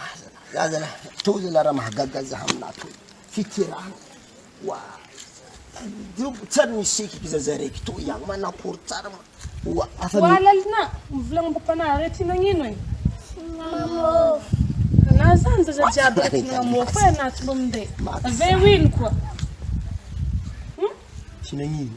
Aza na aza na toy zala raha mahagaga za aminah toy fitirana wa jobo tsary ny sikiko za za raiky toy ihany manakory tsara ma wa afa wa lalina mivolagna ambopanah re ty nagnino e mamofo na zany zaza jiaby raiky mamofo e anah tsy mba minday avy eo ino koa hum tsy nagnino.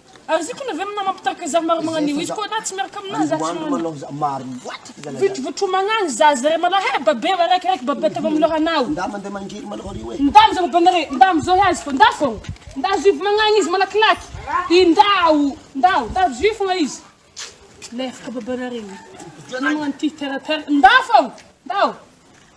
Ary ziko na ve mna mampitarika zary maro magnano io izy koa na tsy miaraka amina za tsy magnano vit votro magnano za zare mala he babe raiky raiky babe ataovy am lohanao nda mande mangiry malôha ry oe nda amzao babenare nda amzao he azy fô nda fô nda azo io magnano izy malakilaky i ndao ndao nda azo io fôgna izy lefaka babenare io magnano ty terre terre nda fô ndao.